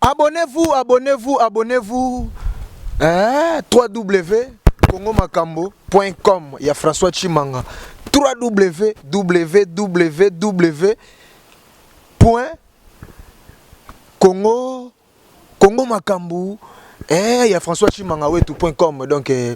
Abonnez-vous, abonnez-vous, abonnez-vous. Eh, 3W congomakambo.com ya François Chimanga. 3W www. Congo Congo makambu eh ya François Chimanga wetu.com donc eh,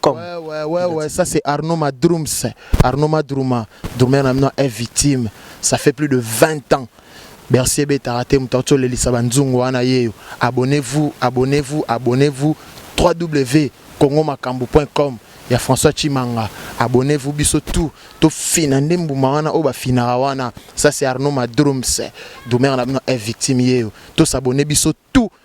Comme. Ouais, ouais, ouais, ouais, ça c'est Arnaud Madrums. Arnaud Madruma, Drummer Namno est victime. Ça fait plus de 20 ans. Bercy Ebeta raté Moutartio Lelisa Banzungu wana yeyo. Abonnez-vous, abonnez-vous, abonnez-vous. www.congomakambu.com ya François Chimanga. Abonnez-vous biso tout. To fina nde mbuma wana oyo bafinaka wana. Ça c'est Arnaud Madrums. Drummer Namno est victime yeyo. To s'abonner biso tout.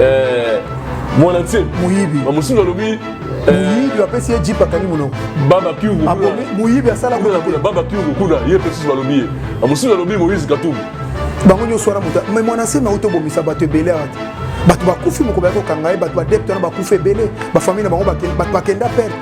eh, mwana nse moyibi bamosusu balobi eh, moyibi bapesi ye jipe akangi monoko moyibi asala babakiungu kuna ye mpe susu balobi ye bamosusu balobi moïse katumbi bango nyonso wana moto me mwana nse nauti obomisa bato ebele awa te bato bakufi moko baya kokanga ye bato badepte wana bakufi ebele bafamile na bango bato bakenda perte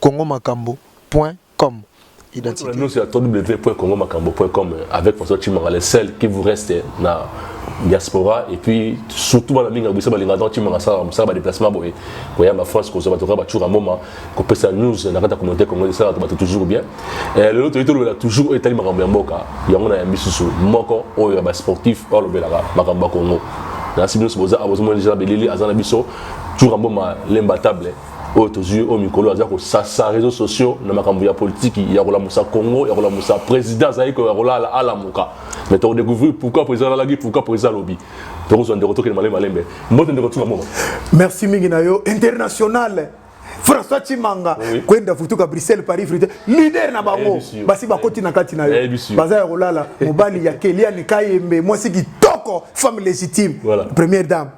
congomakambo point com identité nous sur www.congomakambo point com avec François Chimanga le seul qui vous reste na diaspora et puis surtout bana mingi biso balinga donc timanga sala mosala ba déplacement boye koya ba France kozwa bato kaka bacura moma kopesa news na kati ya communauté congolais esalaka bato toujours bien eh, lelo toyei tolobela toujours oyo etali makambo ya mboka yango na yambi susu moko oyo ya basportif oyo alobelaka makambo ya congo nasi biso boza abozomona deja belili aza na biso cura moma lemba table oyo tozwi oyo mikolo aza kosasa réseau sociaux na makambo ya politiki ya kolamusa congo ya kolamusa président azali koya kolala alamuka mais tokodécouvrir pourquoi président alalaki pourquoi président alobi tokozwa ndeko tokende malembe malembe mbote ndeko tuka moko merci mingi na yo international françois chimanga oui. kwenda futuka bruxelles paris frite leader na bango basi bakoti na kati na yo baza ya kolala mobali ya keliani kayembe mwasi kitoko femme légitime voilà. première dame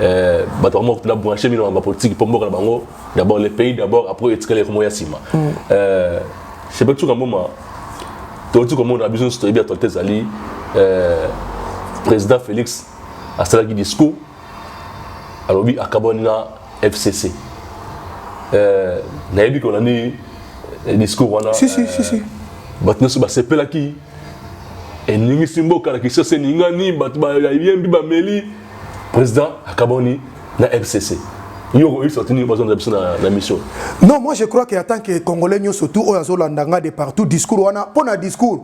Euh, bato yango na branche mino na politique mpo mboka na bango d'abord le pays d'abord après etikali ekomo ya nsima mm. euh, sebe tuka mboma toyoti komona biso nyonso toyebi actualité ezali euh, président félix asalaki discours alobi akabwani na fcc nayebi kolandi discours wana bato nyonso basepelaki eningisi mboka na kinshasa eningani bato bayembi bameli président akaboni na fcc yo oyebisa bato nini bazonda biso na mission non moi je crois que atant que congolais nyonso tout oyo azolanda nga de partout discours wana mpo na discours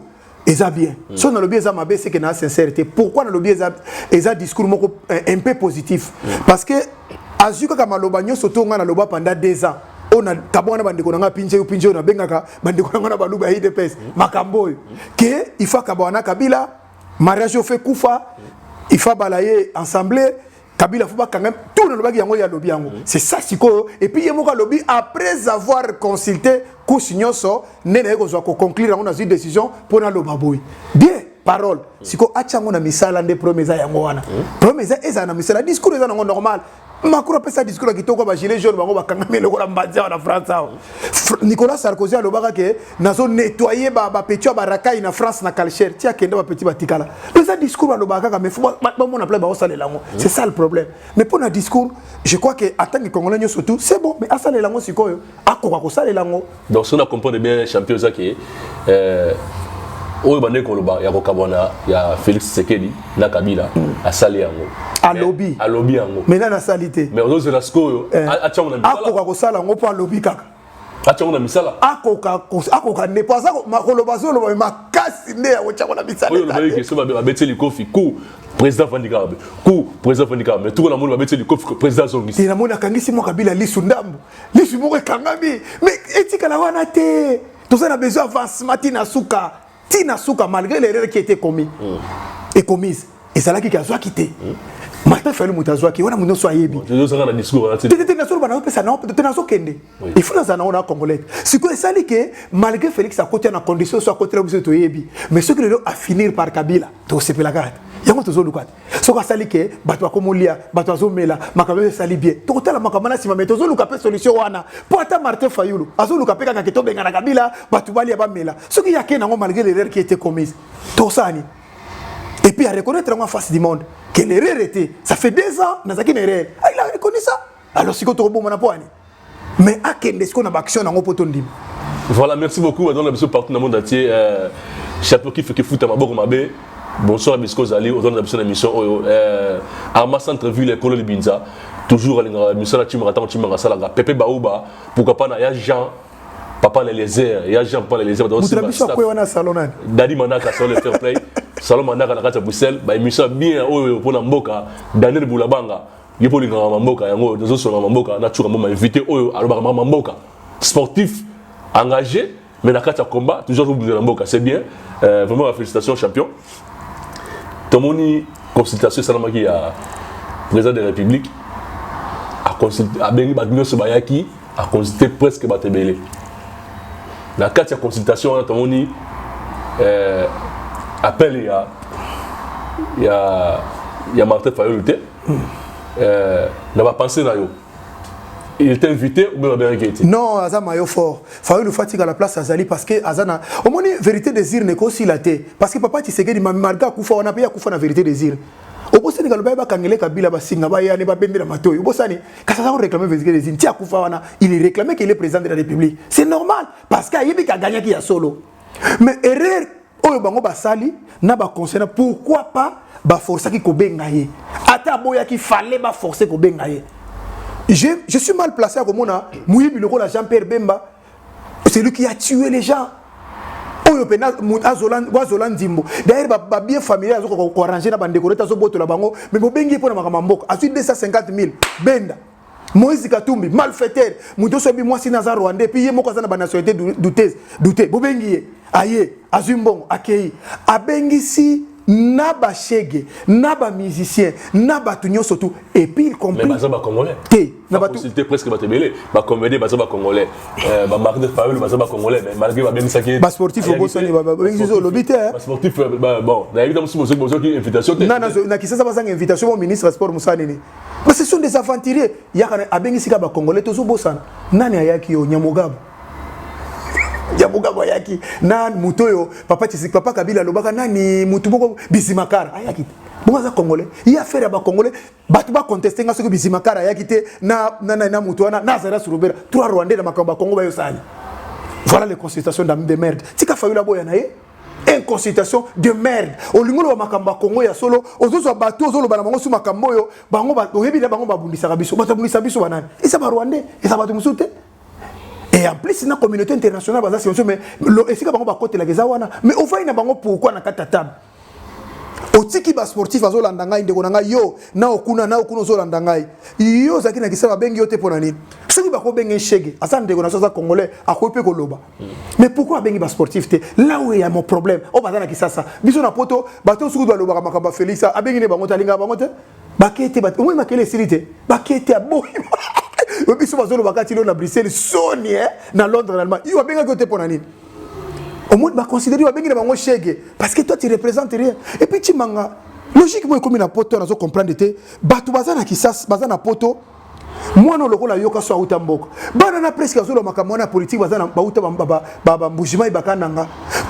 eza bien mm. so nalobi eza mabe seke na sincère te pourquoi nalobi eza, eza discours moko un peu positif mm. parce que azwi kaka maloba nyonso to ngai naloba panda deux ans oyo na tabwa na bandeko na ngai pinje yo pinje oyo nabengaka bandeko na ngai na baluba ya idps makambo oyo ke il faut akabaka na kabila mariage oyo fe kufa il faut abala ye ensemble kabila fo bakanga tout nalobaki yango ye alobi yango c'est ça sikoyo epuis ye moko alobi après avoir consulté couche nyonso nde naye kozwa koconclure yango nazwi décision mpo naloba boye bien parole sikoyo atya yango na misala nde problème eza yango wana problème eza ezala na misala discours eza nango normal Macron apesa discours ya kitoko ba gilet jaune bango bakangami eloko na mbanzi awa na France awa Nicolas Sarkozy alobaka ke nazo nettoyer ba ba petit ba rakai na France na Kalcher ti akenda ba petit batikala pesa discours alobaka kaka mais faut ba mona plein ba osala lango c'est ça le problème mais pour na discours je crois que atangi congolais nyoso tout c'est bon mais asala lango sikoyo akoka kosalela yango donc soki na comprendre bien champion eza ke euh, oyo bandeki koloba ya kokabwana ya félix tshisekedi na kabila mm. asali yango alobi alobi yango mais nani asali te mais ozozela sikoyo eh. atyango na akoka kosala yango mpo alobi kaka atyango na misala akoka akoka nde mpo aza makoloba azoloba makasi nde ya kotyango na misala oyo olobaki question babeti likofi ku président afandi kaka be ku président afandi kaka me tuko namoni babeti likofi président azongisi te namoni akangisi mwa kabila lisu ndambo lisu moko ekangami me etikala wana te toza na besoin avancement ti na suka ti na suka malgré l'erreur qui était commis mm. et commise ezalaki ke azwaki te mm. martin fayulu moto azwaki wana moto nyonso ayebi te nasoloba naopesa nao te nazokende ifo nazala nango na congolais sikoyo esali ke malgré félix akotya na condition so akotela biso toyebi mais soki lelo afinir par kabila tosepelaka te yango tozoluka te soki asali ke bato bakomolia bato azomela makambo oyo esali bien tokotala makambo na nsima me tozoluka mpe solution wana mpo ata martin fayulu azoluka mpe kaka ke tobengana kabila bato balia bamela soki ye akei nango malgré l'erreur qui était commise tosala nini et puis areconnaitre yango en face du monde que l'erreur était ça fait deux ans nazalaki na erreur ah, il a reconnu ça alors sikoyo tokobomana mpo ani mais akende sikoyo na baaction yango mpo tondima voilà merci beaucoup adona biso partout na monde entier euh, chapeau kife kifuta maboko mabe bonsoir bisika ozali ozalanda biso na émission oyo euh, arma centre ville ekolo libinza toujours alingaka émission na timaka ntango timaka asalaka pepe bauba pourquoi pas na ya jean papa na eliezer ya jean papa na eliezer moto na biso akwei wana salon nani dadi manaka salon le fair play salon manaka na kati ya bruxelles baémission ya bien oyo mpo na mboka daniel bulabanga Yo po lingaka mamboka yango nazo songa mamboka na chuka mboma invité oyo alobaka mama mboka sportif engagé mais na kati ya combat toujours azobunda na mboka c'est bien euh, vraiment ba félicitations champion tomoni consultation esalamaki ya président de la république abengi bato nyonso bayaki aconsulte presque bato ebele na kati ya consultation wana tomoni euh, appel ya ya ya martin fayulu te hmm. euh, na bapense na yo il est invité ou bien babengaki ete non aza mayo fort fayulu fatika la place azali parce que aza na omoni vérité des urnes ekosila te parce que papa tshisekedi malgré akufa wana mpe akufa na vérité des urnes obosani kaloba ye bakangele kabila basinga bayane babendela matoi obosani kasi aza koreklame vérité des urnes ti akufa wana il réclame qu'il est président de la république c'est normal parce que ayebi ke agangnaki ya solo mais erreur oyo bango basali na ba conseil na pourquoi pas ba forçaki ko benga ye ata aboyaki fallait ba forcer ko benga ye je, je suis mal placé à komona muyibi lokola Jean Pierre Bemba celui qui a tué les gens oyo mpe azola nzimbo daire babien familier azokoka koarrange na bandeko nete azobotola bango me bobengi ye mpo na makambo ya mboka azwi 250 000 benda Moïse Katumbi malfaiteur moto oso bi mwasi naza rwandais puis ye moko aza na ba nationalité douteuse doute bobengi ye aye azwi mbongo akeyi abengisi na ba shege na ba musicien na bato nyonso tu epuis il compris baza bacongolais te na baconsulte presque bato ebele bacomédie baza bacongolais euh, bamari de faul baza bacongolais mais malgré babengisaki basportif obosani babengisi olobi te basportif euh, bon nayebi ta mosusu bozoki invitation te na kisasa bazanga invitation mo ministre ya sport mosala nini Mais ce sont des aventuriers. Yaka abengisi ka ba congolais tozo bosana. Nani ayaki yo Nyamugabo? Nyamugabo ayaki na moto yo papa Tshisek papa Kabila lobaka nani moto moko Bizimakara ayaki. Bongo aza congolais. Ye affaire ya ba congolais bato ba contester nga soki Bizimakara ayaki te na na na, na moto wana na Zara Surubera. Trois Rwandais na makambo ba Kongo ba yo sali. Voilà les consultations d'ami de merde. Tika Fayulu aboya na ye. en consultation de merde olingi oloba makambo ya kongo ya solo ozozwa bato ozoloba na bango su makambo oyo bango oyebi na bango babundisaka biso bato babundisa biso banani eza barwandais eza bato mosusu te et en plus na communauté internationale baza sensio mais esika bango bakotelaka eza wana mais ofai na bango pourkui na kati ya table otiki basportif azolanda ngai ndeko na ngai yo na okuna na okuna ozolanda ngai yo ozalaki na kisala babengi yo te mpo na nini soki bakobenge shege aza ndeko na so aza congolais akoki mpe koloba mais pourquoi abengi ba sportif te là où il y a mon problème oh bazana kisasa biso na poto bato suku doit lobaka makamba Félix abengi ne bango talinga bango te bakete bato moi makele esili te bakete aboyi biso bazoloba kati lo na Bruxelles soni eh na Londres na Allemagne yo abengaki yo te pona nini au moins ba considérer abengi ne bango chege parce que toi tu représentes rien et puis chimanga logique moi ekomi na poto nazo comprendre te bato bazana kisasa bazana poto mwana oyo lokola yoka so awuta mboka bana na preske azoloba makambo wana ya politike baza bawuta bambujimai bakananga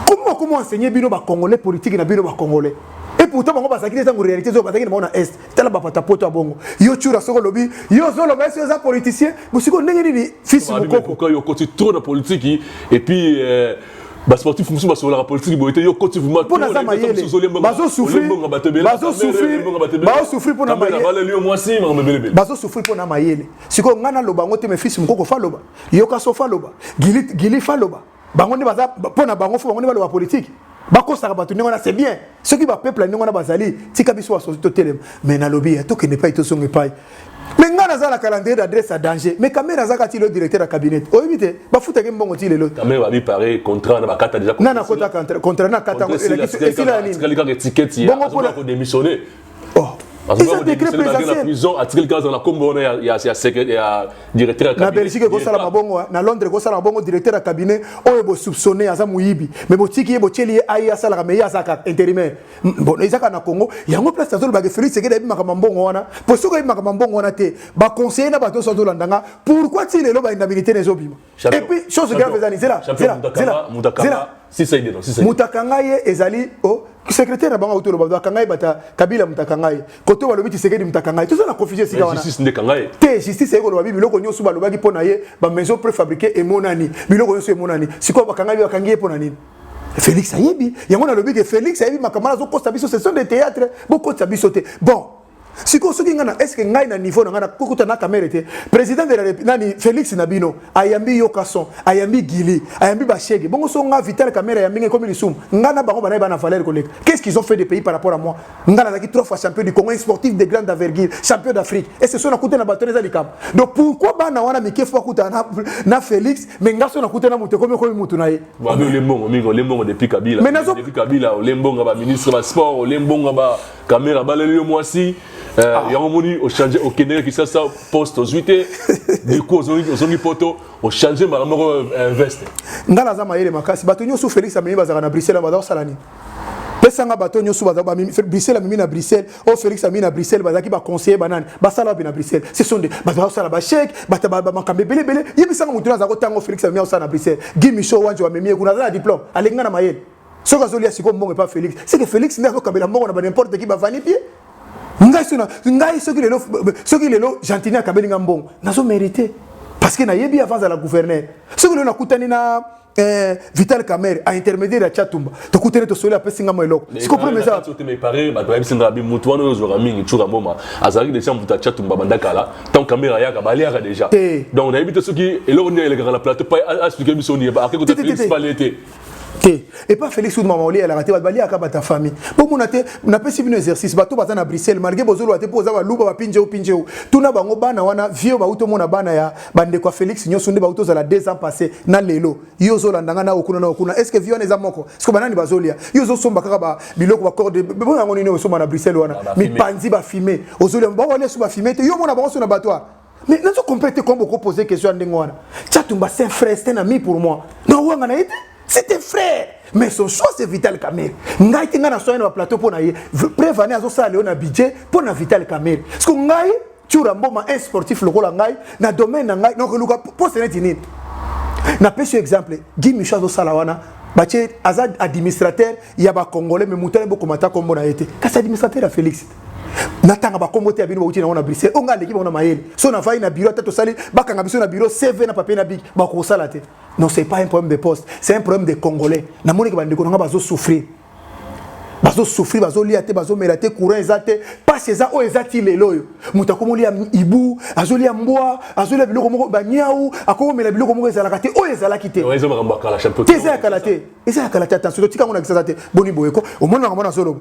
komi wakomi enseigner bino bacongolais politike na bino bacongolais et pourtant bango bazalaki ntango réalité oyo bazalaki na bango na est tala bapata poto ya bongo yo cura soki olobi yo ozoloba esi oza politicien bosiko ndenge nini fils mokoko yo okoti trop na politiki et puis euh, ba sportif mususu basololaka politiki boye te yo koti vumabazosufri mpo na mayele sikoyo ngai naloba yango te mefisi mokoko faloba yoka so faloba gili faloba bango nde baza mpo na bango fo bango nde baloba politiki bakosaka bato ndenge wana c'est bien soki bapeuple ya ndenge wana bazali tika biso basosi totelema mai nalobi ya tokende epai tozonga epai me ngai naza na calendrier d'adresse ya danger me kamere azaka ti lo directeur ya cabinet oyebi te bafutaki mbongo ti lelo nana kotaka contrat nakata esila ya nini bongo mpona oh. eza décret présidentiel atikeli kaka azala na kombo wana ya directeur na belgique ekosala mabongo na londres ekosala mabongo directeur ya cabinet oyo bosoupçonne aza moyibi me botiki ye botyeli ye aye asalaka me ye azaka intérimaire bon eza kaka na congo yango place nazolobake félix ekede ayebi makambo mbongo wana mpo soki ayebi makambo mbongo wana te baconseiller na bato nyonso azolanda nga pourquoi ti lelo baindabilité na ezobima Et puis, chose grave, Zani, Zela, Zela, Zela, Zela, si ça est non, si ça. Mutakanga ye ezali oh secrétaire na bango auto loba bakanga ye bata kabila mutakanga ye kote wa lobi tisekedi mutakanga ye tout ça na confusion sika wana justice nde kanga ye te justice yeko loba biloko nyoso ba lobaki pona ye ba maison préfabriquée et monani biloko nyoso emonani siko bakanga ye bakangi ye pona nini Félix ayebi yango na lobi que Félix ayebi makamala zo kosa biso session de théâtre bokotsa biso te bon sikoyo soki ngai na eske ngai na niveau na ngai nakokuta na kamere te président de la nani félix na bino ayambi yokason ayambi gili ayambi bashege bongo so ngai vital kamere ayambi ngai ekomi lisumu ngai na bango banaye bana valeur koleka qu'est ce qu'ils ont fait de pays par rapport à moi ngai nazalaki trois fois champion du congo sportif de grande envergure champion d'afrique est ce so nakuta na bato eza likambo donc pourquoi bana wana mike fo akutana na, na félix mais ngai so nakuta na moto ekomi ekomi motu na ye olembongo mingi olembongo depuis kabila depuis kabila olembonga ba ministre ba sport olembonga ba kamera abaleli yo mwasi eh, ah. yango omoni ochange okendeke kisasa poste ozwi te duku ozongi poto ochange mbala moko eh, veste ngai naza mayele makasi bato nyonso félix amemi bazalaka na bruxelles baza kosala nini pesanga bato nyonso bruxelles amemi na bruxelles oyo oh, félix amemi na bruxelles bazalaki baconseiller banani basala wapi na bruxelles ce sont de bato bazosala bacheke makambo ebele ebele yebisanga motu azala kotanga félix amemi akosala na bruxelles gi micho wanje wamemi ye kuna aza na diplôme alingi nga na mayele soki azolia sikoyo mbongo epa felix seke felix nde azokabela mbongo na banimporte ki bavani pie ngai sona ngai soki lelo soki lelo gentini akabeli ngai mbongo nazo mérite parce que nayebi avant azala gouverneur soki lelo nakutani na eh, vital camere a intermédiaire ya chatumba tokutani tosoli apesi ngai mwa eloko siko problème eza bato bayebisi ngai abi motu wana oyo ozwaka mingi tshura mboma azalaki deja moto ya chatumba banda kala ntango camere ayaka baliaka deja donc nayebi te soki eloko nini elekaka na plateau pa asplike biso nini akekota felix pale te te epa felix oud mama olielaka te bato baliaka bata famille bomona te napesi bino exercice bato baza na bruxelles malgré bozoloba te mpo oza baluba bapinjeu pinjeu tuna bango bana wana vieux bauti omona bana ya bandeko ya felix nyonso nde bauti ozala deux ans passé na lelo yo ozolanda ngai na okuna na okuna est ce que vie wana eza moko siko banani bazolia yo ozosomba kaka ba biloko bacorde bo yango nini osomba na bruxelles wana mipanzi bafime ozolia baolia so bafime te yo omona bango so na batoire mais nazo comprendre te comment boko poser question ya ndenge wana chatumba c'est un frère c'est un ami pour moi na wanga na ye te c'est un frère mais son choix c'est vital kamere ngai te ngai na soya na baplateau mpo na ye prevane azosala leo na budget mpo na vital kamere parce que ngai tiura mboma un sportif lokola ngai na domaine na ngai nakoluka poste neti nini napesi yo exemple gi micho azosala wana batie aza administrateur ya bacongolais mais moto ane bokomata nkombo na ye te kasi administrateur ya félix te natanga bakombo te ya bino bauti nango na bruxelles oyo ngai aleki bango na mayele so navai na biro ata tosali bakanga biso na biro cv na papier na biki bakosala te non c'est pas un problème de poste c'est un problème de congolais namoneke bandeko na ngai bazosouffrir bazosouffrir bazolia te bazomela te courant eza te mpasi eza oyo eza ti lelo oyo moto akomolia ibu azolia mbwa azolia biloko moko baniau akomomela biloko moko ezalaka te oyo ezalaki te te eza ya kala te eza ya kala te attention totika yango na kisasa te boni boyeko omonaka mwana azoloba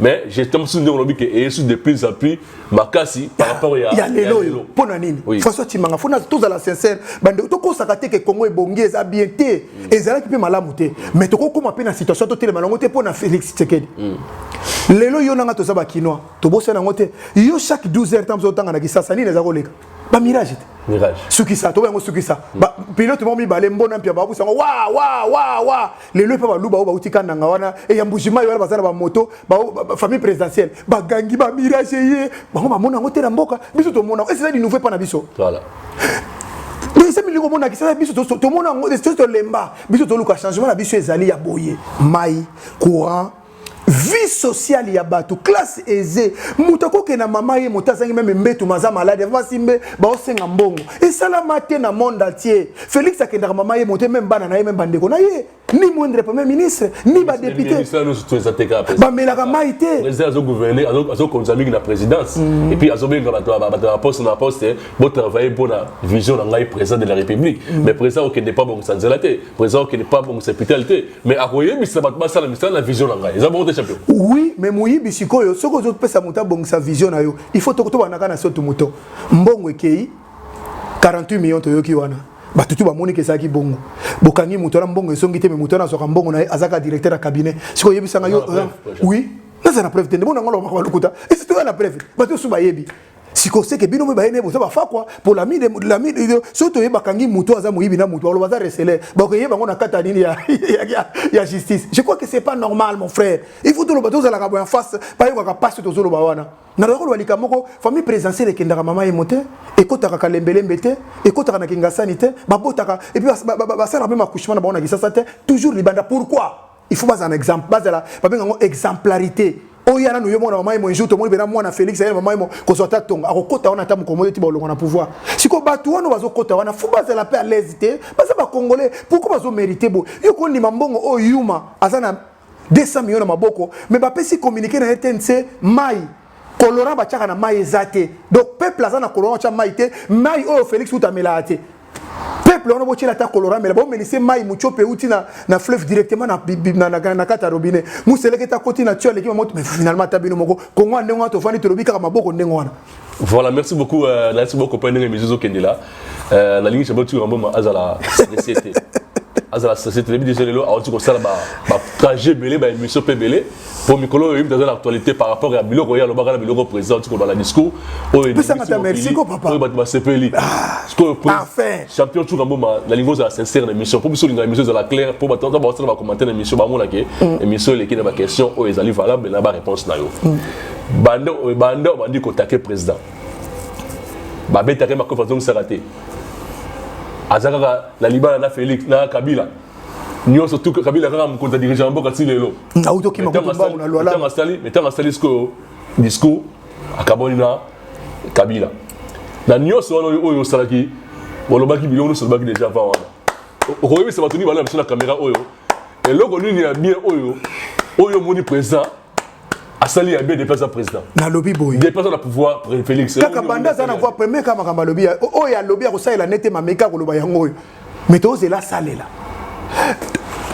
mais je t'aime sous ndenge olobi ke eye sous de plus en plus makasi par rapport ya ya lelo oyo mpo na nini Oui. françois timanga fo na- tozala sincère bande tokosaka te ke congo ebongi eza bien te ezalaki mpe malamu te mais tokokoma mpe na situation totelema nango te mpo na félix tsekedi lelo yo nanga toza bakinois tobosana yango te yo chaque 12 heures ntango ozotanga na kisasa nini eza koleka ba mirage te mirage sukisa toba yango sukisa mm. ba pilote moko mibale mbona mpia babusi yango wa wa wa wa lelo epa baluba oyo bauti kananga wana e ya mbuji mai wana baza na bamoto famille présidentielle bagangi ba mirage ye bango bamona yango te na mboka biso tomona yango eseza linouveau epa na biso voilà eza milingo omonakisa na biso tomona yango tolemba biso toluka changement na biso ezali ya boye mai courant vie sociale ya bato classe aisée moto akokende na mama ye moto azangi meme mbetu maza maladi avasi mbe baosenga mbongo esalama te na monde entier félix akendaka mama ye moto meme bana na ye meme bandeko na ye ni moindre premier ministre ni badepute bamelaka mai te azokonza mingi na présidence mm. epuis azobenga bato ya poste na poste botravaille mpo na vision na ngai président de la république mm. mais président okende mpo abongisa nzela te président qui n'est pas bon c'est putain te mais à quoi mais ça va pas ça la mission la vision là ils ont monté champion oui mais moi il si quoi ce que je peux ça monter bon sa vision là il faut tout tout on a qu'à sauter mouton bon et qui 48 millions de qui wana bato tu bamoni ke ezalaki bongo bokangi moto wana mbongo esongi te me moto wana azwaka mbongo na ye azalaka directeur ya cabinet sikoy oyebisanga yo oui naza na preuve te nde mona ngo lokoka balukuta esi toya na preuve bato osu bayebi siko seke bino mpe bayene boza bafakwa mpo lamide lamide soki toye bakangi moto aza moyibi na moto baloba aza reseler bakoyeba yango na kati ya nini ya justice je crois que c'est pas normal mon frère il faut toloba tozalaka boya face bayokaka mpasi tozoloba wana naloba koloba likambo moko famille présidentielle ekendaka mama ye mo te ekotaka kalembelembe te ekotaka na kingasani te babotaka epuis basalaka mpe makushema na bango na kisasa te toujours libanda pourquoi il faut bazala na exemple bazala babenga yango exemplarité oyo yana noyo mwana mamaye moinjour tomoni mpena mwana félix aye mamaye kozwa ata tongo akokota wana ata mokongo ete baolongo na pouvoir sikoyo bato wana bazokota wana fo bazala mpe alaise te baza bacongolais pourkoi bazomérite boye yo kondima mbongo oyo yuma aza na 200 million na maboko me bapesi communiqué na rtnc mai colorant batiaka na mai eza te donc peuple aza na colorant otya mai te mai oyo félix uta amelaka te peuple wana botyela ata colorant mela bomelise mai mutiope euti na, na fleuve directement na, na, na, na kati ya robinet museleke ta koti na tio aleki mamoto mais finalement ata bino moko kongo ya ndenge wana tofandi tolobi kaka maboko ndenge wana voilà merci beaucoup euh, nalisi bokopai ndenge misu ezokende la euh, nalingi shabel tio yamboma azala société azala société lebi deja lelo awuti kosala batrajet ebele baémission mpe ebele po mikolo oyo yimbi aza na actualité par rapport ya biloko ye alobaka na biloko président oti koloba na discours oyo bato basepeli ah, sikoyo champion cuka mboma nalingi ozala sincère na émission mpo biso olingaka émission ezala claire mpo bato ata baosala bacommentaire na émission bamona ke mm. émission eleki na baquestion oyo ezali valable na baréponse na yo mm. banda banda obandi kotake président babetaka ye makofi azongisaka te aza kaka na libala na félix na kabila nyonso tu kabila kaka mokonzi ya dirigent ya mboka ti lelo auti okima kutu mbangu na lwala asali me ntango asali sikoyo discours akaboli na kabila na nyonso wana oyo osalaki olobaki biloko nyonso olobaki deja avant wana okoyebisa bato nini bala na biso na kamera oyo eloko nini ya bien oyo oyo omoni présent asali ya bien depuis aza président nalobi boye depuis aza na pouvoir félix kaka banda aza na voix premier kaka makambo alobi oyo alobi akosalela nete mameki akoloba yango oyo mais tozela asalela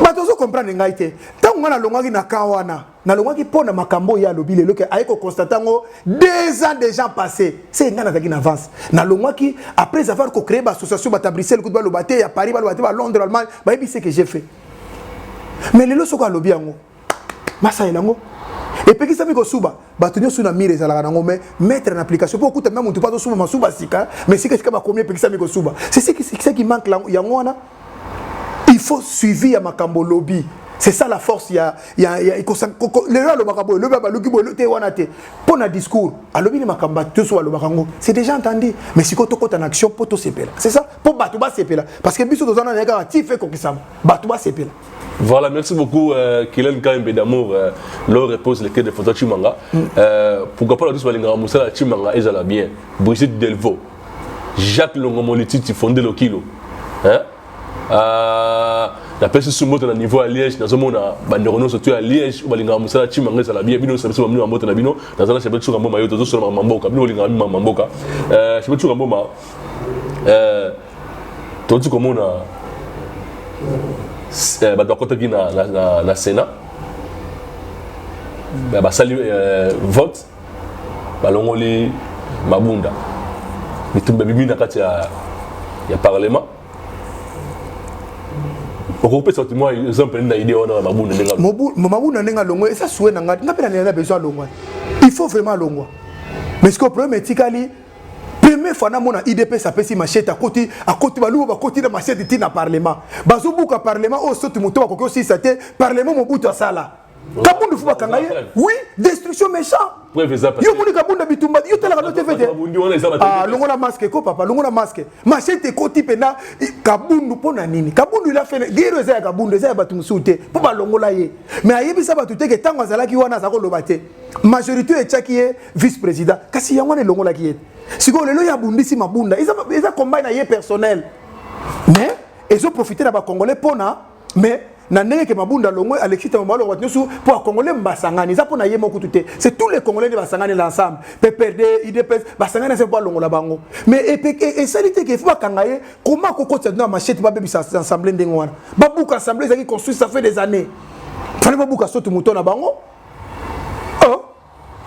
bato ozo comprendre ngai te ntango ngai nalongwaki na kan wana nalongwaki mpo na makambo oyo ye alobi lelo ke aye kokonstate yango deux ans déjà passé se ngai nazalaki na avance nalongwaki après avoir kocree baassociation bata bruxelles kutu baloba te ya paris baloba te balondre allemagne bayebi se ke j'ai fait mais lelo soko alobi yango basalela yango epekisami kosuba bato nyonso na mire ezalaka nango mai mettre na application mpo okuta mpe moto mpo azosuba masuba sika mai sika sika bakomi epekisami kosuba seseki manque yango wana il faut suivi ya makambo olobi c'est ça la force ya ya ya ikosa lelo alobaka boye lobi abaluki boye te wana te mpo na discours alobi ni makambo bato nyonso balobaka yango c'est déjà entendu mais sikoyo tokota na action mpo tosepela c'est ça mpo bato basepela parce que biso toza na naye kaka ti fe kokisama bato basepela Voilà, merci beaucoup euh, Kylian Kaimbe d'amour euh, leur repose le quai de Fanta Chimanga. Mm. Euh, pourquoi pas la douce Malinga Moussa Chimanga et la bien. Brigitte Delvaux, Jacques Longomolititi fondé le kilo. Hein? Euh, la peste sous moto na niveau à Liège, na zomo na bandero no surtout à Liège, balinga Moussa Chimanga ça la bien. Bino sabiso bamino mboto na bino, na zala chebe tsuka mboma yo tozo solo mamboka, bino linga mamboka. Euh, chebe tsuka mboma. Euh, tozi komona eh, bato bakotaki na, na, na, na sénat mm. basali eh, vote balongoli mabunda bitumba bimi na kati ya, ya parlement okopesa bato mwa exemple nini na idée wana mabunda ndenge mabunda ndenge alongwa eza sue na ngai ngai mpe na besoin alongwa il faut vraiment alongwa mais sikoyo problème etikali premier fois namona idps apesi machete akoti akoti baluba bakoti na machete ti na parlement bazobuka parlement oyo oh, soti moto bakoki osilisa te parlement mobutu asala kabundu fo bakanga ye oui destruction méchant yo omoni kabunda bitumba yo talaka no te fete ah, longola masque ko papa longola masque machete ekoti mpena kabundu mpo na nini kabundu ila fene gero eza ya kabundu eza ya bato mosusu te mpo balongola ye mais ayebisa bato te ke ntango azalaki wana aza koloba te majorité oyo etyaki ye vice président kasi yango wana elongolaki ye sikoyo lelo ye abundisi mabunda eza, eza combat na ye personnel mais ezoprofite na bacongolais mpona mais na ndenge ke mabunda longwe alexis ntango balongo bato nyonso mpo bakongole basangani eza mpo na ye moko tute c'est tous les congolais nde basangani na ensemble pprd idps basangani na se mpo alongola bango mais esali te ke fo bakanga ye koma kokotisa dino ya machete babebisa assemblée ndenge wana babuka assemblée ezalaki construit ça fait des années fale babuka sotu moto na bango oh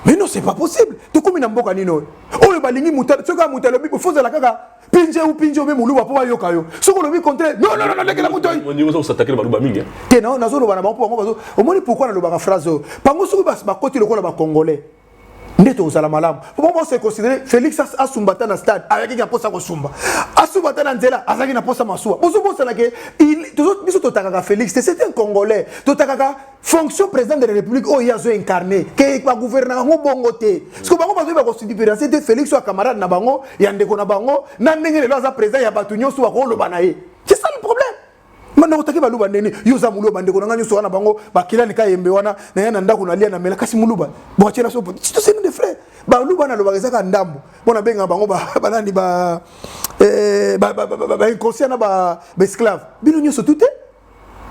mais non c'est pas possible tokomi na mboka nini oyo oyo balingi moto soki moto alobi faut ozala kaka pinje ou pinje obe moluba mpo bayoka yo soki olobi contraire non non non lekela moto osatakela baluba mingi te na nazoloba na bango mpo bango bazo omoni pourquoi nalobaka phrase oyo bango soki bakoti lokola bacongolais nde tokozala malamu mpo bango baose considere félix asumba ata na stade ayaki na mposa kosumba asumba ata na nzela azalaki na mposa masuwa bozobosanake biso totakaka félix te c'est un congolais totakaka fonction président de la république oyo ye azo incarne ke bagouvernaka yango bongo te siko bango bazoyeba kosudiperiance te félix oyo camarade na bango ya ndeko na bango na ndenge lelo aza président ya bato nyonso bakoloba na ye c'est ça le problème manda otaki baluba ndeni yo oza muluba ndeko na ngai nyonso wana bango bakilani ka yembe wana naya na ndako nalia na mela kasi muluba boatyela so toseni de frais baluba nalobaka ezaka ndambo mpo nabengaka bango banani ba inconscient na baesclave bino nyonso tute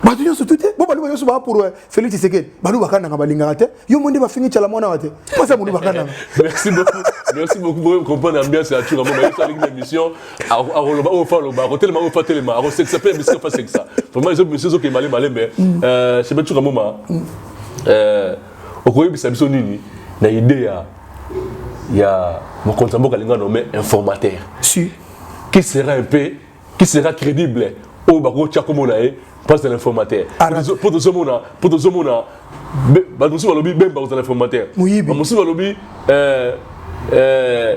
bato nyonso tu te bo baluba nyonso baa pour euh, félix tshisekedi baluba kananga balingaka te yo mo nde bafingi cala mwana wa te mpasa moluba kananga merci beaucoup merci beaucoup boye comprendre ambiance ya tshura mama yesu alingi na émission akoloba oyo fa aloba akotelema oyo fa telema akosekisa mpe bisika fa sekisa vraiment ezo monsieur ezokende male male mais mm. euh, chebe tshura mama mm. euh, okoyebisa biso nini na idée ya ya mokonzi ya mboka alingano mais informateur si qui sera un peu qui sera crédible oyo bakoki kotya nkombo na ye place de l'informateur mpo tozomona mpo tozomona bato mosusu balobi bemba kozala informateur bamosusu balobi euh, euh,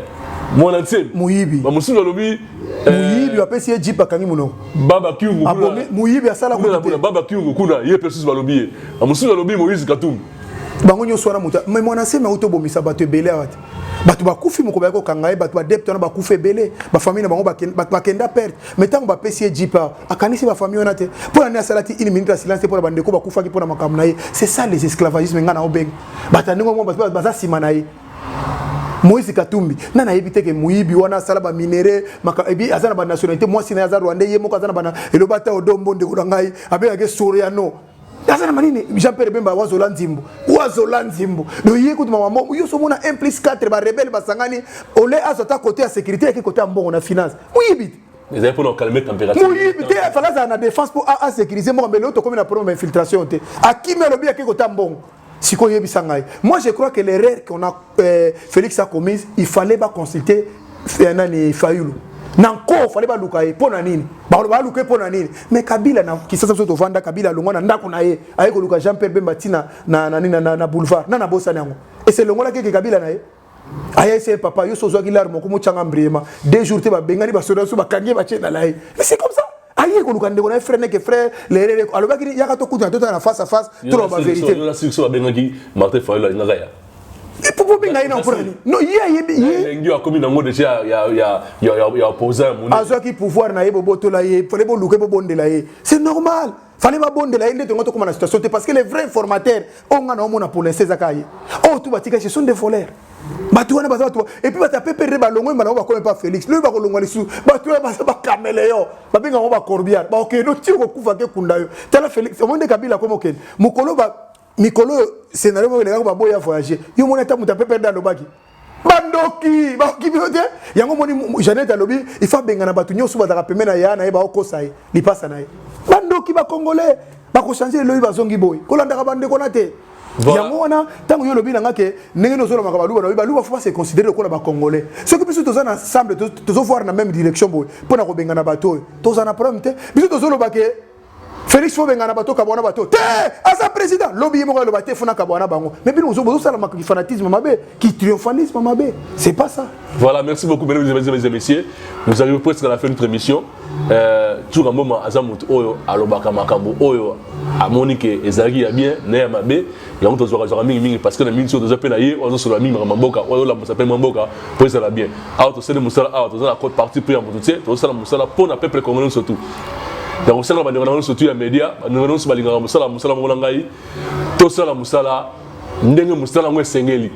mwana nsemi moyibi bamosusu balobi euh, moyibi bapesi ye jip akangi monoko baba kiungu moyibi asala baba kiungu kuna ye mpe susu balobi ye bamosusu balobi moïse katumbi bango nyonso wana moto me mwana nsemi auti obomisa bato ebele awa te bato bakufi moko bayaki kokanga ye bato badepte wana bakufi ebele bafamille na bango bakenda perte mai ntango bapesi ye jipa akanisi bafamille wana te mpo na nini asalaki une minute ya silence te mpo na bandeko bakufaki mpo na makambo na ye c'est ça les esclavagisme ngai na obenga bato ya ndenge moko baza nsima na ye moïse katumbi nani ayebi te ke moyibi wana asala baminere ebi aza na banationalité mwasi na ye aza rwandais ye moko aza na bana eloba ata odombo ndeko na ngai abengaki soriano aza na manini jean pierre bemba wazola nzimbu wazola nzimbu do ye kutu mama mbongo yo somona 1 plus 4 ba rebelle basangani ole azo ta côté ya sécurité yaki côté ya mbongo na finance muyibi ezali mpona okalme température moyibi te afalaki azala na défense mpo asécurise mboka mbele oyo tokomi na problème ya infiltration te akimi alobi yake kota mbongo sikoyo yebisa ngai moi je crois que l'erreur qu'on a euh, félix a commise il fallait ba consulter euh, nani fayulu na nko fallait baluka ye mpo na nini baluka ye mpo na nini mais kabila na kisasa biso tovanda kabila alongwa na ndako na ye aye koluka jean pierre bemba ntina na, na, na, na, na boulevard na nabosani yango ese elongolaki eke kabila na ye aya ese papa yo so ozwaki lare moko motyanga mbriema deux jours te babengani basoda so bakangi ye batye na laye mais c'est comme ça aye koluka ndeko na ye frere neke frere lerere alobaki nini yaka tokutana totala na face à face toloba verité yo na sirso abengaki martin fayulu alingaka ya popo benga ye na mpona nini no ye ayebi elengi akomi nango deja ya opposant moni azwaki pouvoir na ye bobotola ye fale boluka ye bobondela ye c'est normal fale babondela ye nde tongo tokoma na situation te parce que les vrais formateurs oyo nga na omona pour l'instant ezaka ye oyo oh, tu batika ce sont des voleurs bato wana baza bato epuis bato ya pepere balongwe mbala yango bakoma epa félix lobi bakolongwa lisusu bato wana baza bakameleyo babenga yango bacorbiar bakokende otiri kokufa te kunda yo tala félix omoni nde kabila akoma okende mokolo mikolo oyo scénario moko elekaka baboya voyage yo moni ata moto ya pepere nde alobaki bandoki bakoki bino te yango omoni janete alobi ifo abengana bato nyonso bazalaka pembe na ya na ye baokosa ye lipasa na ye bandoki bakongole bakochange eloyi bazongi boye kolandaka bandeko na te Voilà. yango wana ntango yo olobi na nga ke ndenge nde ozolobaka baluba nabi baluba fo base considere lokola bacongolais soki biso toza na ensemble tozovoir na même direction boye mpo na kobengana bato oyo toza na problème te biso tozoloba ke félix fo bengana bato kabwana bato te aza président lobi ye moko aloba te fona kabwana bango mais bino bozosala fanatisme mabe ki triomphalisme mabe c'est pas ça voilà merci beaucoup mesdames et messieurs nous arrivons presque à la fin de notre émission Euh, Tsuka Mboma aza moto oyo alobaka makambo oyo amoni ke ezalaki ya bien na ya mabe yango tozwaka zwaka mingi mingi parce que na mingi oyo toza mpe na ye oyo azosolola mingi makambo mboka oyo olamusa mpe mwa mboka mpo ezala bien awa tosali mosala awa toza na cote parti mpe ya moto te tozosala mosala mpo na peuple congolais nyonso tout ya kosala bandeko na nyonso tout ya media bandeko nyonso balingaka mosala mosala moko na ngai tosala mosala ndenge mosala yango esengeli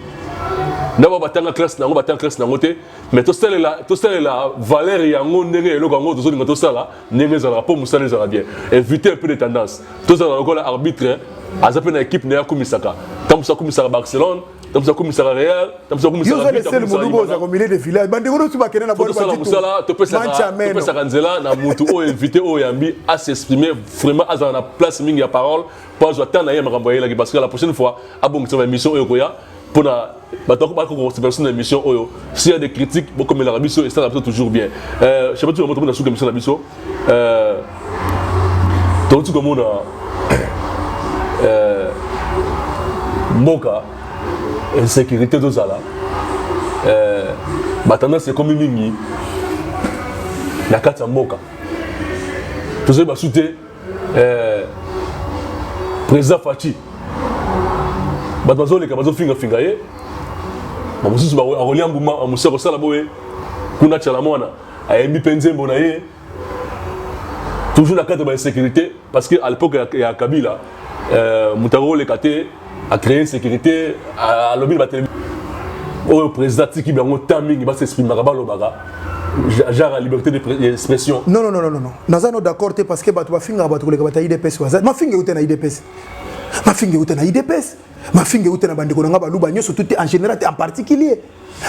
ndako batanga classe na yango batanga classe na yango te mais tosalela tosalela valeur yango ndenge eloko yango tozolinga tosala ndenge ezalaka mpo mosala ezala bien éviter peu de tendance tozala lokola arbitre aza mpe na équipe na ye akumisaka ntango mosu akumisaka barcelone ntango mosu akumisaka real ntango mosu akumisakaosala mosala topesaka nzela na motu oyo invité oyo yambi asexprime vraiment azala na place mingi ya parole mpo azwa temps na ye makambo ayelaki parce que la prochaine fois abongisa ba émission oyo koya mpo na bato akobaki kokosepela biso na émission oyo s'il y a des critiques bokomelaka biso esalaka biso toujours bien euh, chapati yango tomona suka émission na biso euh, touti komona euh, mboka insécurité tozala batendance ekomi mingi na kati ya mboka tozali basu te eh, président faci bato bazoleka bazofingafinga ye bamosusu akolia mbuma mosusu akosala boye kuna cala mwana ayembi mpe nzembo na ye toujours na cadre ba insécurité parce que à l'époque ya, ya kabila euh, moto akoleka te a créer insécurité alobi ba télé oyo président tiki bango temps mingi ba s'exprimaka balobaka genre liberté d'expression non non non non non naza no d'accord te parce que bato bafingaka bato koleka bato ya idps waza mafinga euta na idps mafinga euta na idps mafinga euta na bandeko na ngai baluba nyonso tout en général te en particulier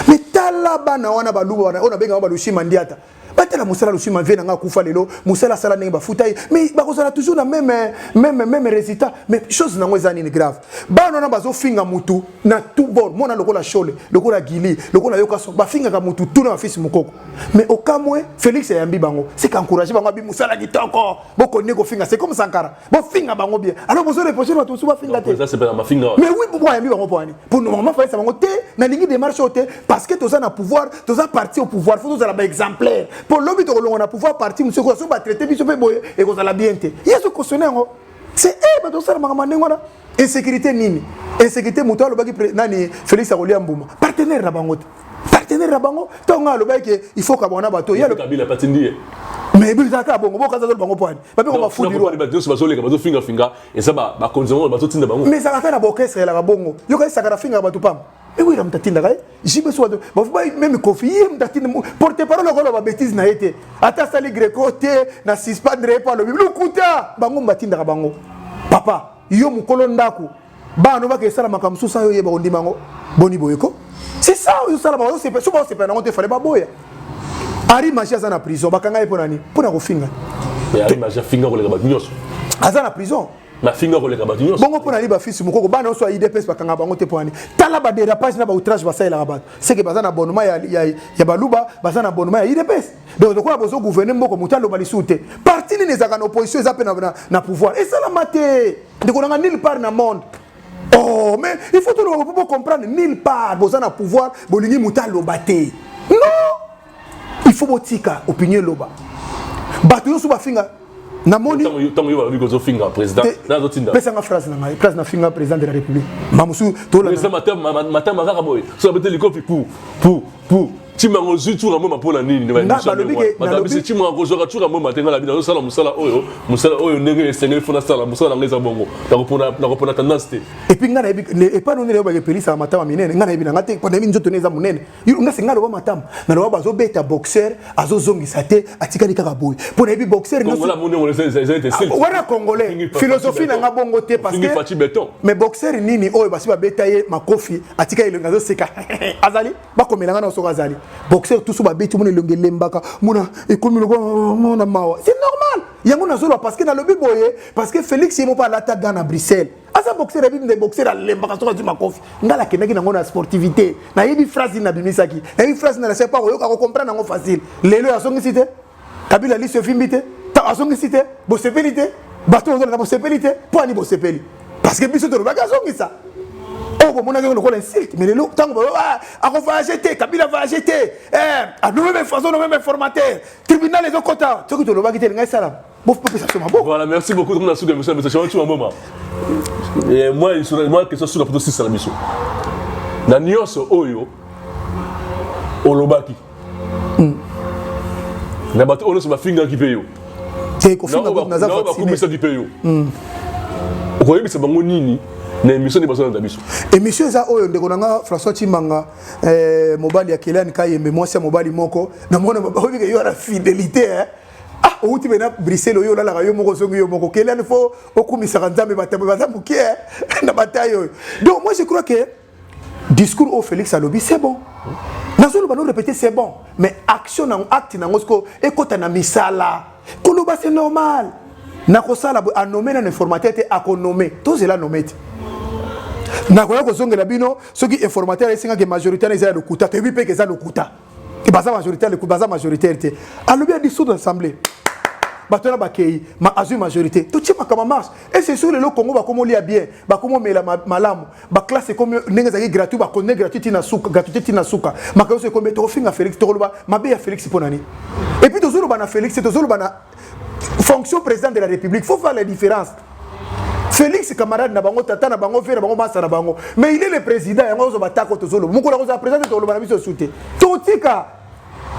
mais tala bana wana baluba wana oyo nabengaka balushi mandiata batala mosala losui mavie na ngai akufa lelo mosala asala ndenge bafuta ye mais bakozala toujours na meme meme meme résultat mais chose nango eza nini grave bana wana bazofinga mutu na tout bord mwana lokola shole lokola gili lokola yokaso bafingaka mutu tout na bafisi mokoko mais okamwe félix ayambi bango sika encourage bango abi mosala kitoko bokondi kofinga c'est comme sankara bofinga bango bien alors bozo reproche bato mosusu bafinga te mais oui pourquoi ayambi bango mpo wani mpo normalement falisa bango te nalingi démarche oyo te parce que toza na pouvoir toza parti au pouvoir fo tozala baexemplaire mpo lobi tokolonga na pouvoir parti mosusu ekoya so batraite biso mpe boye ekozala bien te yesu kosone yango c'est e bato kosala makambo ndenge wana insecurite nini insecurite moto alobaki nani felix akolia mbuma partenaire na bango te partenaire na bango ntango ngai alobaki ke il faut kabanga na bato yekabila patindi ye mais bizalaka bongo bokaza tolo bango poani bape ko bafudiro bato nyonso bazoleka bazofingafinga eza bakonzi bango bazotinda bango mais ezalaka na baorchestre elaka bongo yoka esaka na fingaka bato pamba Et oui, Ram Tatina, JB Swad, même Kofi, Ram Tatina, porte-parole, on va bêtise, n'a été. Ata Sali Greco, te, n'a suspendre, pas le Bible, Kouta, Bango Matinda Bango. Papa, yo mukolo ndaku, ba no ba ke sala makambo susa yo yeba ondima ngo, boni boyeko. C'est ça, yo sala bango, c'est pas, c'est pas, c'est pas, n'a été, fallait pas boya. Ari Maji aza na prison, bakanga ye pona ni, pona kofinga. Mais Ari Maji afinga koleka ba nyonso. Aza na prison. bafinga koleka bato nyonso bongo mpo na nini bafisi mokoko bana nyonso ya idps bakanga bango te mpo nani tala baderapage na baoutrage basalelaka bato seke baza na bonema ya, ya, ya baluba baza na bonema ya idps donc lokola bozo gouverne mboko moto aloba lisusu te parti nini ezalaka na opposition eza mpe na, na, na pouvoir esalama te ndeko nanga nil part na monde oh mais il faut toloba po bocomprendre nil part boza na pouvoir bolingi moto aloba te non il faut botika opinion eloba bato nyonso bafinga namonipesanga phrase na ngai phrase nafinga président de la république mamosusu tomatama kaka boye so abete likofi pou pou pou timango ozwi tsuka mboma mpo na nini ndebabiso timango kozwaka tsuka mboma te ngai na bino azosala mosala oyo mosala oyo ndenge esengeli mpo nasala mosala na ngai eza bongo nakopona tendance te epuis ngai nayebi epai nonene oyo bakepelisaka matama minene ngai nayebi na ngai te mpo nayebi nzoto ne eza monene yo nga singa loba matama na loba bazo beta boxeur azo zongisa te atikali kaka boye pona yebi boxeur nyo kongola mundi ngolo c'est c'est te c'est wana congolais philosophie na nga bongo te parce que fati beton mais boxeur nini oyo basi ba beta ye makofi atikali le ngazo seka azali ba komela nga na soka azali boxeur tout ba beti mona longue lembaka mona ekomi loba mona mawa c'est normal yango na zolo parce que na lobi boye parce que Felix yemo pa lata gana Bruxelles aza boxer ya bibi nde boxer alembaka soki azwi makofi ngai nakendaki nango na sportivité nayebi phrase nini nabimisaki nayebi phrase nini nasipa koyoka kokomprendre yango facile lelo oyo azongisi te kabila lisi efimbi te ntango azongisi te bosepeli te bato bozolanda bosepeli te mpo ani bosepeli parce que biso tolobaki azongisa oyo oh, bomonaki lokola insulte mais lelo ntango baloba ah, akovoyage te kabila voyage te eh, anomme information nomme informateur tribunal ezokota soki tolobaki te elingai esalama Bof pas ça maboko. Voilà, merci beaucoup comme la soude monsieur monsieur Chama tu mama. Et moi il sera moi que ça soude pour 6 la mission. Na nioso oyo olobaki. Hmm. Na bato oyo ba finga ki pe yo. Te ko finga ko na za vacciner. Na ko kumisa ki pe yo. Hmm. Okoyebisa bango nini? na émission nde bazolanda biso émission eza oyo ndeko na nga françois timanga eh, mobali ya keliani kayembe mwasi ya mobali moko na mwana baoyebike yo ana fidélité eh? ah owuti mpe na bruxelles oyo olalaka yo moko ozongi yo moko kelani fo okumisaka nzambe bato baza moke eh, na bataille oyo donc moi je crois que discours oyo félix alobi c'est bon nazoloba no répété c'est bon mais action nango acte nango siko ekɔta na misala koloba c'est normal nakosala boye anome nano informateur te akonome tozela nome te nakoya kozongela bino soki informateur ayesengaki majorité na eza ya lokuta toyebi mpe ke eza lokuta et baza majoritaire le baza majoritaire te alobi ya dissoudre assemblée bato wana bakei ma azwi majorité totie makambo marche et c'est sur lelo congo bakomi olia bien bakomi omela malamu baklasse ekomi ndenge ezalaki gratuit bakonde gratuit tina suka gratuité tina suka makambo nyonso ekomi tokofinga félix tokoloba mabe ya félix mpo na nini epuis tozoloba na félix te tozoloba na fonction président de la république faut faire la différence félix camarade na bango tata na bango vie na bango masa na bango mais il est le président yango ozo batako tozoloba mokolo akozala président te toloba na biso esu te totika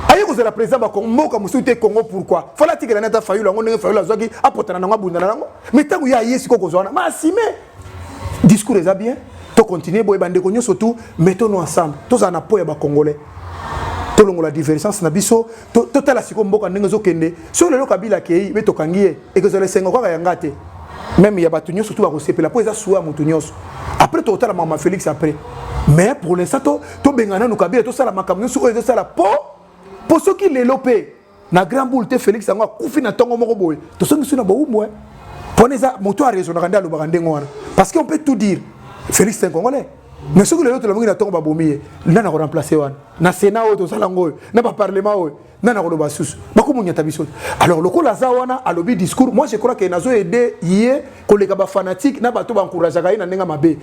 aye kozala président bakomboka mosusu te congo pourquoi fala atikela nata fayulu yango ndenge fayulu azwaki apotana nango abundana nango mais ntango ye aye sikoyo kozwa wana maasime discours eza bien to continuer boye bandeko nyonso tout mettons nous ensemble tozala na po ya bacongolais tolongola divergence na biso totala sikoyo mboka ndenge ezokende soki lelo kabila akei mpe tokangi ye ekozala esengo kaka yanga te meme ya bato nyonso tu bakosepela mpo eza suwa ya moto nyonso après tokotala mama félix après mais pour l'instant tobenga nanu kabila tosala makambo nyonso oyo ezosala po po soki lelo mpe na grand boule te felix yango akufi na ntongo moko boye tosongisi na bowumbu eh. mpona eza moto arezonaka nde alobaka ndenge wana parce que on peut tout dire felix un congolais mais soki lelo tolamoki na ntongo babomi ye nani akoremplace wana na sénat oyo tozala yango oyo na baparlement oyo nani akoloba susu bakomonyata biso te alors lokola aza wana alobi discours moi je crois ke nazo aide ye koleka bafanatique na bato bancourageaka ye na ndenge mabe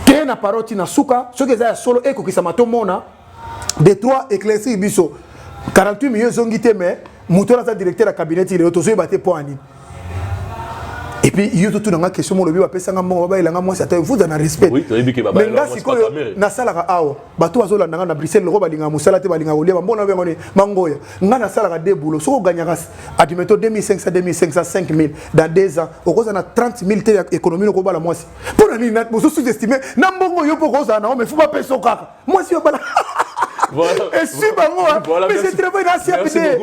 te na parole ti na suka soki eza ya solo ekokisama tomona de trois éclaircir biso 48 millions ezongi te mais moto wana aza directeur ya cabinet ti lelo tozoyeba te mpo ya nini epuis yo totuna nga question molobi bapesanga mbongo babayela nga mwasi ata efuta na respect mais nga sikoyo nasalaka awa bato bazolanda nga na bruxelles loko balingaka mosala te balingaka kolia bambongo na yango mangoya nga nasalaka de boulot soki oganyaka adimeto 2500 2500 5000 dans 2 ans okozala na 30 000 te ya économie okobala mwasi mpo na nini bozo sous-estime na mbongo yo mpo okozala na yango mais fo bapeso kaka mwasi yo bala esui bango mais je travaille na cfd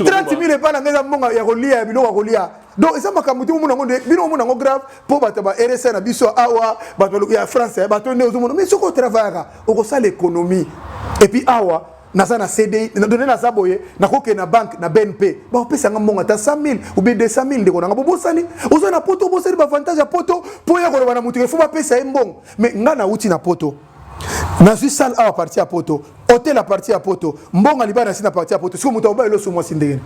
30 mille epai na ngai eza mbongo ya kolia ya biloko ya kolia donc eza makambo te omona yango nde bino omona yango grave mpo bato ba rsa na biso awa bato ya france eh, bato nde ozomona mais soki otravayaka okosala économie epuis awa naza na cdi donne naza boye nakokende na banque na bnp bakopesa nga mbongo ata 100 000 oubien 200 000 ndeko nanga bobosani oza na poto obosani baavantage ya poto mpo ya koloba na moto efo bapesa ye mbongo mais ngai nauti na poto nazwi sale awa parti ya poto hotel ya parti ya poto mbongo libala nasi na parti ya poto siko moto akoba eloso mwasi ndenge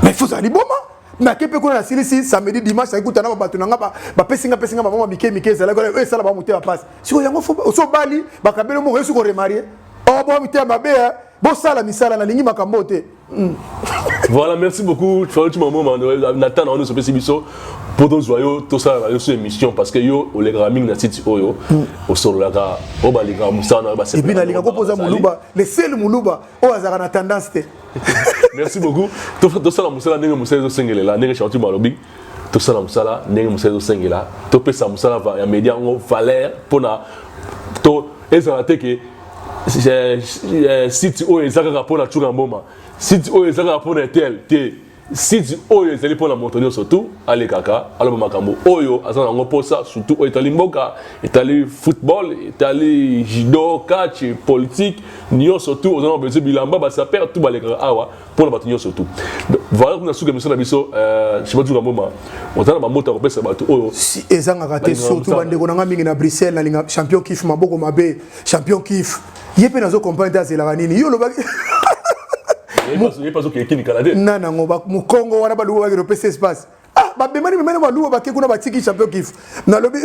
mais fozala liboma nake mpe kuna nasilisi samedi dimanche naki kutana ba bato na nga bapesi nga pesi nga bamama mike mike ezalaki oyo esala bango motema mpasi siko yango osobali bakabeli moko yesu koremarie obomi te mabe bosala misala nalingi makambo oyo te hmm. voilà merci beaucoup faluti mamo na ntan na wana osopesi biso mpo tozwa yo tosala na yo so émission parce que yo olekaka mingi na site oyo hmm. osololaka oyo balingaka mosala na yo baepuis nalinga ko mpoza moluba le seul moluba oyo azalaka na tendance te merci beaucoup tosala mosala ndenge mosala ezosengelela ndenge charti malobi tosala mosala ndenge mosala ezosengela topesa mosala ya media yango valeur mpona to ezala te ke eh, eh, site oyo eza kaka mpo na cunga mboma site oyo eza kaka mpo na etel te site oyo ezali mpo na moto nyonso tu alekaka aloba makambo oyo aza na yango mposa surtout oyo etali mboka etali football etali judo catch politique nyonso tu oza na besoin bilamba basaper tu balekaka awa mpo na bato nyonso tu valeur na suka biso na biso euh, shimatuka mboma oza na bamboto ya kopesa bato oyo ezangaka te surtout bandeko na ngai mingi na bruxelles nalinga champion kif maboko mabe champion kif ye mpe nazo comprendre te azelaka nini yo olobaki na nango mokongo wana baluba bakende opesa espace ah babemani memene baluba bake kuna batiki champion kif nalobi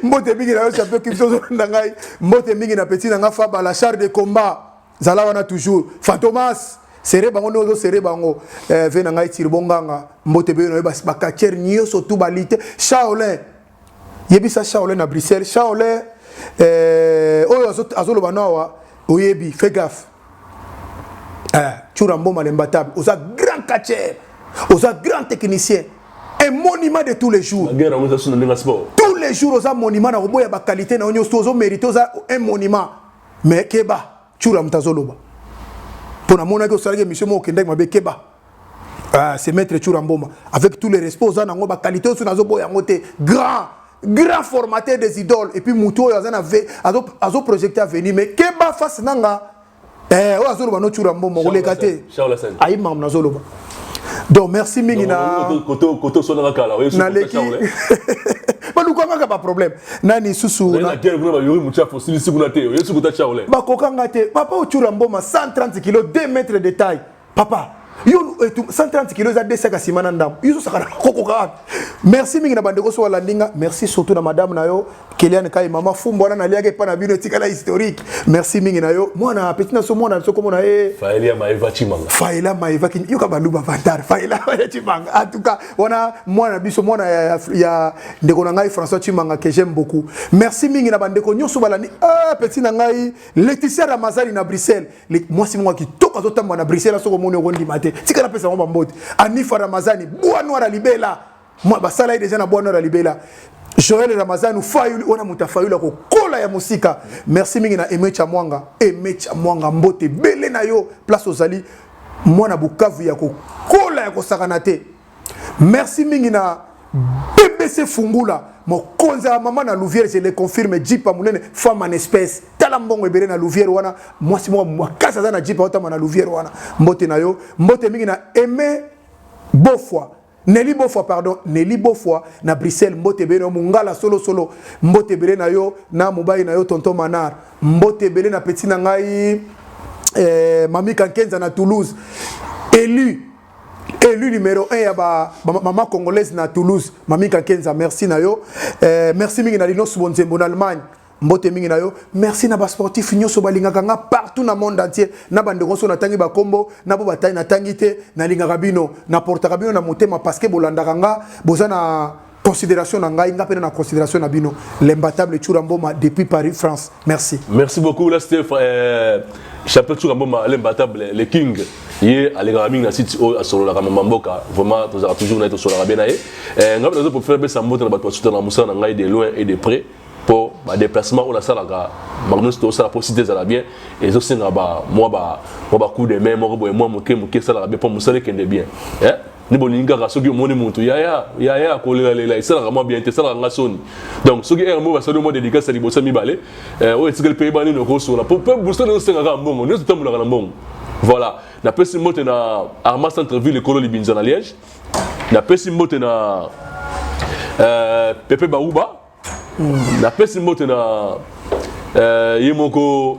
mbote mingi na yo champion kif tozolanda ngai mbote mingi na petit na ngai fabala char de combat zala wana toujours fantomas sere bango nde ozosere bango eh, ve na ngai tiri bonganga mbote mpe yo na yo bakatiere nyonso tu balite shaolin yebisa shaolin na bruxelles shaolin eh, oyo azoloba no awa oyebi fe gaffe eh, cura mboma lembatabe oza grand catcher oza grand technicien un monument de tous les jours tous les jours oza monument na koboya baqualité na yo nyonso ozo mérite oza un monument mais keba tshura moto azoloba mpo namonaki osalaki émission moko okendaki mabe keba ah, c'est maître tshura mboma avec tous les respect oza nango bakalite oyo so nazoboya yango te grand grand formateur des idoles et puis moto oyo aza na v azoprojecte azo avenir mais keba face na nga eh, oyo azoloba no tshura mboma koleka te ayi makambo nazoloba donc merci mingi na naleki baluka kaka baproblème nani susu bakoka nga te papa ocura mboma 130 kilo 2 mètre de taille papa yo 130 kilo eza 2 saka nsima na ndambo yo sosaka na kokokaka merci mingi na bandeko so balandi nga merci surtout na madame na yo Keliane Kai mama fumbo wana naliaka epa na bino etikala historique. Merci mingi na yo. Mwana petit na so mwana so komona e. Faela Maeva Chimanga. Faela Maeva kin yoka baluba vantar. Faela Maeva Chimanga. En tout cas, wana mwana biso mwana ya, ya ndeko na ngai François Chimanga que j'aime beaucoup. Merci mingi na bandeko nyoso balandi. Ah petit na ngai Laetitia Ramazani na Bruxelles. Mwasi mwa kitoko azotamba na Bruxelles soko moni okondima te. Tikala pesa mwa bambote. Anifa Ramazani, bwa noir libela. Moi basala ye deja na bwana na libela Joël Ramazanu Fayulu wana moto ya Fayulu akokola ya mosika merci mingi na Emecha Mwanga Emecha Mwanga mbote bele na yo place ozali mwana Bukavu ya kokola ya kosakana te merci mingi na BBC Fungula mokonzi ya mama na Louvière je le confirme jipa monene femme en espèce tala mbongo ebele na Louvière wana mwasi moko makasi aza na jipa otama na Louvière wana mbote na yo mbote mingi na Aimé Bofwa Nelly Bofwa pardon Nelly Bofwa na Bruxelles mbote ebele na yo mungala solo solo mbote ebele na yo na mobali na yo tonton Manar mbote ebele na petit na ngai eh, Mami Kankenza na Toulouse élu élu numéro 1 ya ba, ba mama congolaise na Toulouse Mami Kankenza merci na yo eh, merci mingi na Linos Bonzembo na Allemagne mbote mingi na yo merci na basportif nyonso balingaka nga partout na monde entier na bandeko nyonso natangi bakombo na bo batai natangi te nalingaka bino naportaka bino na motema parce que bolandaka nga boza na considération na ngai nga mpe na considération na bino l'imbatable tshura mboma depuis paris france merci merci beaucoup la steph euh, champion tshura mboma l'imbatable le king ye alekaka mingi na site oyo oh, asololaka mama mboka vraiment tozalaka toujours na ye tosololaka bien na ye eh, ngai mpe nazo profite napesa mbote na bato basutanaka mosala na ngai de loin et de près mpo badeplacement oyo nasalaka makambo nyonso tosala mpo site ezala bien ezosenga mwa bacoup de main moko boye mwa moke moke esalaka bien mpo mosala ekende bien eh? nde bolingi kaka soki omoni motu yaya yaya kolelalela esalaka mwa bien te esalaka nga soni donc soki heure moko basali mwa dédicace ya liboso ya mibale eh, oyo etikali mpe yeba nini okosola mpo mpe buso nde ezosenga kaka mbongo nyonso etambolaka na mbongo voilà napesi mbote na arma centre ville ekolo libinza na liège napesi mbote na euh, pepe bauba mm. napesi mbote na euh, ye moko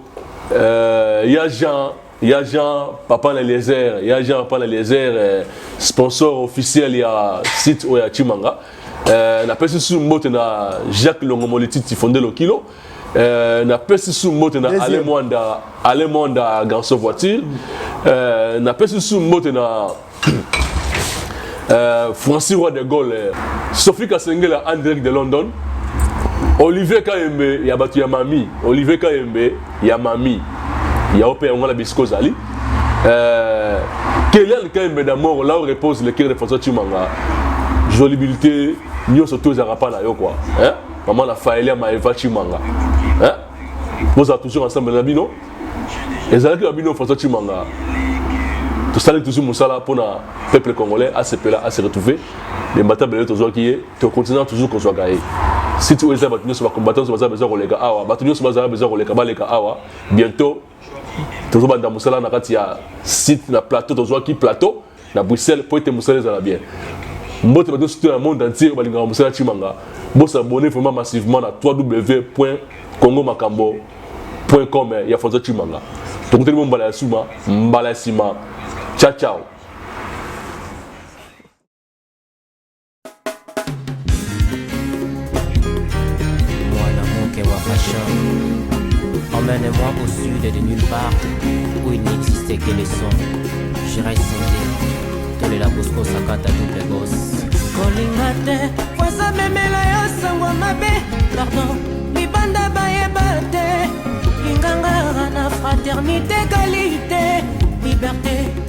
euh, ya jean ya jean papa na eliezer ya jean papa na eliezer euh, sponsor officiel ya site oyo ya chimanga euh, napesi susu mbote na jacques longo molititi fonde lokilo euh, napesi susu mbote na ale mwanda ale mwanda garçon voiture euh, napesi susu mbote na euh, Francis Roi de Gaulle, euh, Sophie Kasengela en direct de London, Olivier Kayembe ya batu ya mami, Olivier Kayembe ya mami, ya ope ya ngala bisiko zali. Euh, Kelian Kayembe d'amour, là où repose le cœur de François Chimanga. Jolibilité, nyoso to ezaka pa na yo quoi. Hein? Maman la Faelia Maeva Chimanga. Hein? Vous êtes toujours ensemble na bino? ezalaki ya bino françois chimanga tosali tozwi mosala mpo na peuple congolais asepela ase retrouve me mbata belele tozwaki ye tokontinua toujours kozwaka ye site oyo eza bato nyonso bacombattant nyonso baza bezwa koleka awa bato nyonso bazala bezwa koleka baleka awa bientôt tozobanda mosala na kati ya site na plateau tozwaki plateau na bruxelles mpo ete mosala ezala bien mbote bato nyonso na monde entier oyo balingaka mosala ya cimanga bosabone vraiment massivement na www congo makambo com ya françois cimanga tokutani mo mbala ya suma mbala ya nsima ciao ciao Emmène-moi au sud et de nulle part où il n'existait que les sons. Je reste santé, tole la bosco sakata double boss. kolinga te poza memela yo sango mabe pardon libanda bayeba te lingangara na fraternité kalite liberté